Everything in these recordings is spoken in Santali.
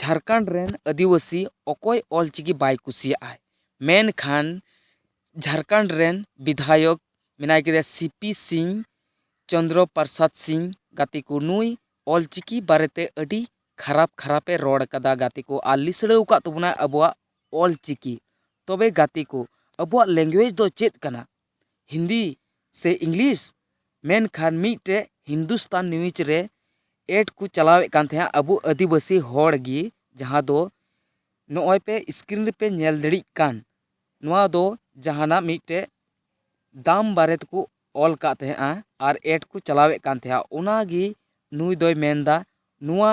ᱡᱷᱟᱲᱠᱷᱚᱸᱰ ᱨᱮᱱ ᱟᱹᱫᱤᱵᱟᱹᱥᱤ ᱚᱠᱚᱭ ᱚᱞ ᱪᱤᱠᱤ ᱵᱟᱭ ᱠᱩᱥᱤᱭᱟᱜᱼᱟ ᱢᱮᱱᱠᱷᱟᱱ ᱡᱷᱟᱲᱠᱷᱚᱸᱰ ᱨᱮᱱ ᱵᱤᱫᱷᱟᱭᱚᱠ ᱢᱮᱱᱟᱭ ᱠᱮᱫᱮᱭᱟ ᱥᱤ ᱯᱤ ᱥᱤᱝ ᱪᱚᱱᱫᱨᱚ ᱯᱨᱚᱥᱟᱫᱽ ᱥᱤᱝ ᱜᱟᱛᱮ ᱠᱚ ᱱᱩᱭ ᱚᱞ ᱪᱤᱠᱤ ᱵᱟᱨᱮᱛᱮ ᱟᱹᱰᱤ ᱠᱷᱟᱨᱟᱯ ᱠᱷᱟᱨᱟᱯ ᱮ ᱨᱚᱲ ᱟᱠᱟᱫᱟ ᱜᱟᱛᱮ ᱠᱚ ᱟᱨ ᱞᱤᱥᱲᱟᱹᱣ ᱟᱠᱟᱫ ᱛᱟᱵᱚᱱᱟᱭ ᱟᱵᱚᱣᱟᱜ ᱚᱞ ᱪᱤᱠᱤ ᱛᱚᱵᱮ ᱜᱟᱛᱮ ᱠᱚ ᱟᱵᱚᱣᱟᱜ ᱞᱮᱝᱜᱩᱭᱮᱡᱽ ᱫᱚ ᱪᱮᱫ ᱠᱟᱱᱟ ᱦᱤᱱᱫᱤ ᱥᱮ ᱤᱝᱞᱤᱥ ᱢᱮᱱᱠᱷᱟᱱ ᱢᱤᱫᱴᱮᱡ ᱦᱤᱱᱫᱩᱥᱛᱟᱱ ᱱᱤᱭᱩᱡᱽ ᱨᱮ ᱮᱰ ᱠᱚ ᱪᱟᱞᱟᱣᱮᱫ ᱠᱟᱱ ᱛᱟᱦᱮᱸᱫᱼᱟ ᱟᱵᱚ ᱟᱹᱫᱤᱵᱟᱹᱥᱤ ᱦᱚᱲ ᱜᱮ ᱡᱟᱦᱟᱸ ᱫᱚ ᱱᱚᱜᱼᱚᱭ ᱯᱮ ᱥᱠᱨᱤᱱ ᱨᱮᱯᱮ ᱧᱮᱞ ᱫᱟᱲᱮᱜ ᱠᱟᱱ ᱱᱚᱣᱟ ᱫᱚ ᱡᱟᱦᱟᱱᱟᱜ ᱢᱤᱫᱴᱮᱡ ᱫᱟᱢ ᱵᱟᱨᱮ ᱛᱮᱠᱚ ᱚᱞ ᱠᱟᱜ ᱛᱟᱦᱮᱸᱫᱼᱟ ᱟᱨ ᱮᱰ ᱠᱚ ᱪᱟᱞᱟᱣᱮᱫ ᱠᱟᱱ ᱛᱟᱦᱮᱸᱫᱼᱟ ᱚᱱᱟ ᱜᱮ ᱱᱩᱭ ᱫᱚᱭ ᱢᱮᱱ ᱮᱫᱟ ᱱᱚᱣᱟ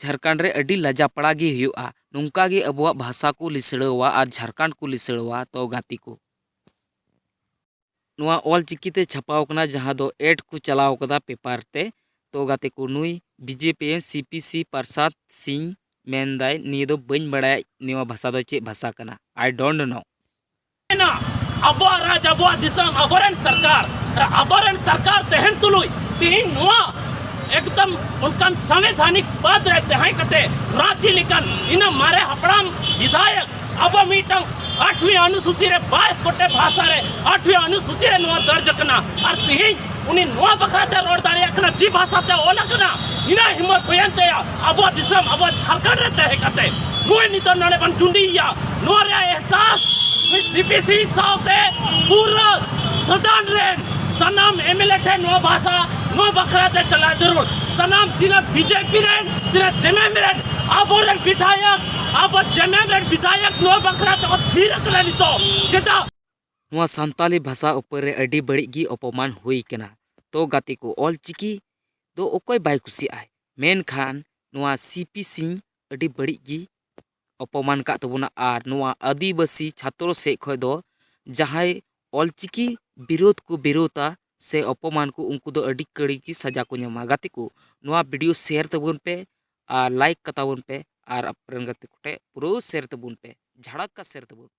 ᱡᱷᱟᱲᱠᱷᱚᱸᱰ ᱨᱮ ᱟᱹᱰᱤ ᱞᱟᱡᱟᱯᱟᱲᱟ ᱜᱮ ᱦᱩᱭᱩᱜᱼᱟ ᱱᱚᱝᱠᱟ ᱜᱮ ᱟᱵᱚᱣᱟᱜ ᱵᱷᱟᱥᱟ ᱠᱚ ᱞᱤᱥᱲᱟᱹᱣᱟ ᱟᱨ ᱡᱷᱟᱲᱠᱷᱚᱸᱰ ᱠᱚ ᱞᱤᱥᱲᱟᱹᱣᱟ ᱛᱚ ᱜᱟᱛᱮ ᱠᱚ ᱱᱚᱣᱟ ᱚᱞ ᱪᱤᱠᱤ ᱛᱮ ᱪᱷᱟᱯᱟᱣ ᱟᱠᱟᱱᱟ ᱡᱟᱦᱟᱸ ᱫᱚ ᱮᱰ ᱠᱚ ᱪᱟᱞᱟᱣ ᱟᱠᱟᱫᱟ ᱯᱮᱯᱟᱨ ᱛᱮ ᱛᱚ ᱜᱟᱛᱮ ᱠᱚ ᱱᱩᱭ B J P C P C Prasad Singh ᱢᱮᱱ ᱮᱫᱟᱭ ᱱᱤᱭᱟᱹ ᱫᱚ ᱵᱟᱹᱧ ᱵᱟᱲᱟᱭᱟ ᱱᱚᱣᱟ ᱵᱷᱟᱥᱟ ᱫᱚ ᱪᱮᱫ ᱵᱷᱟᱥᱟ ᱠᱟᱱᱟ ᱟᱭ ᱰᱳᱱᱴ ᱱᱳ ᱢᱮᱱᱟ ᱟᱵᱚᱣᱟᱜ ᱨᱟᱡᱽ ᱟᱵᱚᱣᱟᱜ ᱫᱤᱥᱚᱢ ᱟᱵᱚᱨᱮᱱ ᱥᱚᱨᱠᱟᱨ ᱟᱨ ᱟᱵᱚᱨᱮᱱ ᱥᱚᱨᱠᱟᱨ ᱛᱟᱦᱮᱱ ᱛᱩᱞᱩᱡ ᱛᱮᱦᱮᱧ ᱱᱚᱣᱟ ᱮᱠᱫᱚᱢ ᱚᱱᱠᱟᱱ ᱥᱟᱝᱵᱤᱫᱷᱟᱱᱤᱠ ᱯᱚᱫ ᱨᱮ ᱛᱟᱦᱮᱸ ᱠᱟᱛᱮ ᱨᱟᱺᱪᱤ ᱞᱮᱠᱟᱱ ᱤᱱᱟᱹ ᱢᱟᱨᱮ ᱦᱟᱯᱲᱟᱢ ᱵᱤᱫᱷᱟᱭᱚᱠ ᱟᱵᱚ ᱢᱤᱫᱴᱟᱝ ᱟᱴᱷᱣᱤ ᱚᱱᱩᱥᱩᱪᱤ ᱨᱮ ᱵᱟᱭᱤᱥ ᱜᱚᱴᱮᱡ ᱵᱷᱟᱥᱟ ᱨᱮ ᱟᱴᱷᱣᱤ ᱚᱱᱩᱥᱩᱪᱤ ᱨᱮ ᱱᱚᱣᱟ ᱫᱚᱨᱡᱽ ᱟᱠᱟᱱᱟ ᱟᱨ ᱛᱮᱦᱮᱧ ᱩᱱᱤ ᱱᱚᱣᱟ ᱵᱟᱠᱷᱨᱟᱛᱮ ᱨᱚᱲ ᱫᱟᱲᱮᱭᱟᱜ ᱠᱟᱱᱟ ᱡᱮ ᱵᱷᱟᱥᱟᱛᱮ ᱚᱞ ᱟᱠᱟᱱᱟ ᱤᱱᱟᱹ ᱦᱤᱢᱚᱛ ᱦᱩᱭᱮᱱ ᱛᱟᱭᱟ ᱟᱵᱚᱣᱟᱜ ᱫᱤᱥᱚᱢ ᱟᱵᱚᱣᱟᱜ ᱡᱷᱟᱲᱠᱷᱚᱸᱰ ᱨᱮ ᱛᱟᱦᱮᱸ ᱠᱟᱛᱮ ᱱᱩᱭ ᱱᱤᱛᱚᱜ ᱱᱚᱰᱮ ᱵᱚᱱ ᱴᱩᱸᱰᱤᱭᱮᱭᱟ ᱱᱚᱣᱟ ᱨᱮᱭᱟᱜ ᱮᱦᱥᱟᱥ ᱱᱩᱭ ᱰᱤᱯᱤᱥᱤ ᱥᱟᱶᱛᱮ ᱯᱩᱨᱟᱹ ᱥᱚᱫᱟᱱ ᱨᱮᱱ ᱥᱟᱱᱟᱢ ᱮᱢᱮᱞᱮ ᱴᱷᱮᱱ ᱱᱚᱣᱟ ᱵᱷᱟᱥᱟ ᱱᱚᱣᱟ ᱵᱟᱠᱷᱨᱟᱛᱮ ᱪᱟᱞᱟᱣ ᱡᱟᱹᱨᱩᱲ ᱥᱟᱱᱟᱢ ᱛᱤᱱᱟᱹᱜ ᱵᱤᱡᱮᱯᱤ ᱨᱮᱱ ᱛᱤᱱᱟᱹᱜ ᱡᱮᱢᱮᱢ ᱨᱮᱱ ᱟᱵᱚᱨᱮᱱ ᱵᱤᱫᱷᱟᱭᱚᱠ ᱟᱵᱚ ᱡᱮᱢᱮᱢ ᱨᱮᱱ ᱵᱤᱫᱷᱟᱭᱚᱠ ᱱᱚᱣᱟ ᱵᱟᱠᱷᱨᱟᱛᱮ ᱠᱚ ᱛᱷᱤᱨ ᱟᱠᱟᱱᱟ ᱱᱤᱛᱚᱜ ᱪᱮᱫᱟᱜ ᱱᱚᱣᱟ ᱥᱟᱱᱛᱟᱲᱤ ᱵᱷᱟᱥᱟ ᱩᱯᱚᱨ ᱨᱮ ᱟᱹᱰᱤ ᱵᱟᱹᱲᱤᱡ ᱜᱮ ᱚᱯᱚᱢᱟᱱ ᱦᱩᱭ ᱟᱠᱟᱱᱟ ᱛᱚ ᱜᱟᱛᱮ ᱠᱚ ᱚᱞ ᱪᱤᱠᱤ ᱫᱚ ᱚᱠᱚᱭ ᱵᱟᱭ ᱠᱩᱥᱤᱭᱟᱜᱼᱟ ᱢᱮᱱᱠᱷᱟᱱ ᱱᱚᱣᱟ ᱥᱤ ᱯᱤ ᱥᱤ ᱟᱹᱰᱤ ᱵᱟᱹᱲᱤᱡ ᱜᱮ ᱚᱯᱚᱢᱟᱱ ᱟᱠᱟᱫ ᱛᱟᱵᱚᱱᱟ ᱟᱨ ᱱᱚᱣᱟ ᱟᱹᱫᱤᱵᱟᱹᱥᱤ ᱪᱷᱟᱛᱨᱚ ᱥᱮᱫ ᱠᱷᱚᱱ ᱫᱚ ᱡᱟᱦᱟᱸᱭ ᱚᱞ ᱪᱤᱠᱤ ᱵᱤᱨᱳᱫᱷ ᱠᱚ ᱵᱤᱨᱳᱫᱷᱟ ᱥᱮ ᱚᱯᱚᱢᱟᱱ ᱠᱚ ᱩᱱᱠᱩ ᱫᱚ ᱟᱹᱰᱤ ᱠᱟᱹᱲᱤ ᱜᱮ ᱥᱟᱡᱟ ᱠᱚ ᱧᱟᱢᱟ ᱜᱟᱛᱮ ᱠᱚ ᱱᱚᱣᱟ ᱵᱷᱤᱰᱭᱳ ᱥᱮᱭᱟᱨ ᱛᱟᱵᱚᱱ ᱯᱮ ᱟᱨ ᱞᱟᱭᱤᱠ ᱠᱟᱛᱟᱵᱚᱱ ᱯᱮ ᱟᱨ ᱟᱯᱮᱨᱮᱱ ᱜᱟᱛᱮ ᱠᱚᱴᱷᱮᱱ ᱯᱩᱨᱟᱹ ᱥᱮᱭᱟᱨ ᱛᱟᱵᱚᱱ ᱯᱮ ᱡᱷᱟᱲᱟᱠᱠᱟ ᱥᱮᱭᱟᱨ ᱛᱟᱵᱚᱱ ᱯᱮ